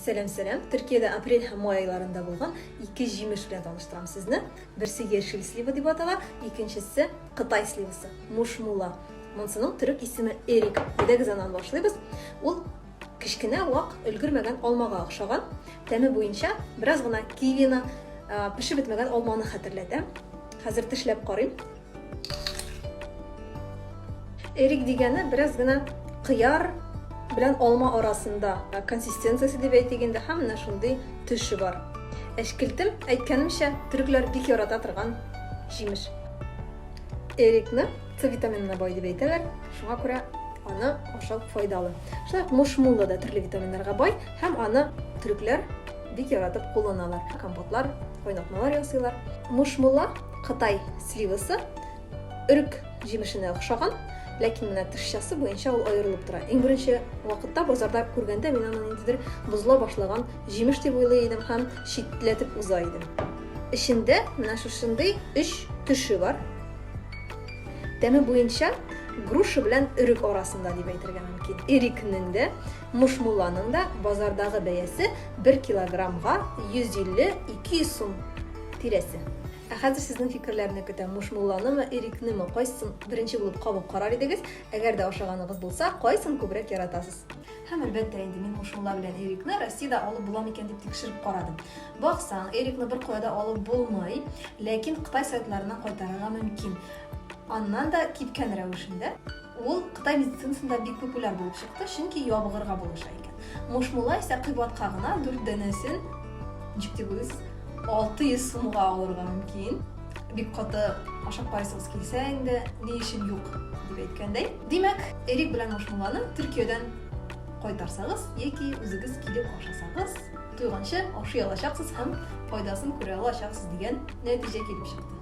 Сәлам сәлам, Төркиядә апрель һәм май айларында булган ике җимеш белән таныштырам сезне. Берсе яшел слива дип атала, икенчесе кытай сливасы, мушмула. Монсының төрек исеме эрик. Әйдәгез аннан башлыйбыз. Ул кечкенә вак өлгермәгән алмага охшаган. Тәме буенча бераз гына кивины, пешеп бетмәгән алманы хәтерләтә. Хәзер тешләп карыйм. Эрик дигәне бераз гына кыяр белән алма арасында консистенциясе дип әйтик инде һәм менә шундый төше бар. Әшкелтем, әйткәнемчә, төрекләр бик ярата торган җимеш. Эрикны С витаминына бай дип әйтәләр, шуңа күрә аны ашау файдалы. Шулай ук мушмула да төрле витаминнарга бай һәм аны төрекләр Бик яратып кулланалар. Компотлар, кайнатмалар ясыйлар. Мушмула, Кытай сливасы, өрек җимешенә охшаган, ләкин менә тышчасы буенча ул аерылып тора. Иң беренче вакытта базарда күргәндә мин аны ниндидер бозла башлаган җимеш дип уйлый идем һәм читләтеп уза идем. Эчендә менә шушындый өч төше бар. Тәме буенча груша белән өрек арасында дип әйтергә мөмкин. Ирекнең дә Мушмулланың да базардагы бәясе бер килограммга 150-200 сум тирәсе. Ә хәзер сезнең фикерләрне көтәм. Мушмулланымы, ирикнеме, кайсысын беренче булып кабып карар идегез? Әгәр дә ашаганыгыз булса, кайсын күбрәк яратасыз? Һәм әлбәттә инде мин мушмулла белән эрикны Россиядә алып була микән дип тикшереп карадым. Баксаң, эрикны бер кая да алып булмый, ләкин Кытай сайтларына кайтарырга мөмкин. Аннан да кипкән рәвешендә. Ул Кытай медицинасында бик популяр булып чыкты, чөнки ябыгырга булыша икән. Мушмула исә кыйбатка гына дүрт данәсен, ничек дип уйлыйсыз, 600 сумга алырга мөмкин. Бик каты ашап карыйсыгыз килсә инде, ни өчен юк дип әйткәндәй. Димәк, эрик белән мушмуланы Төркиядән кайтарсагыз яки үзегез килеп ашасагыз, туйганчы ашый алачаксыз һәм файдасын күрә алачаксыз дигән нәтиҗә килеп чыкты.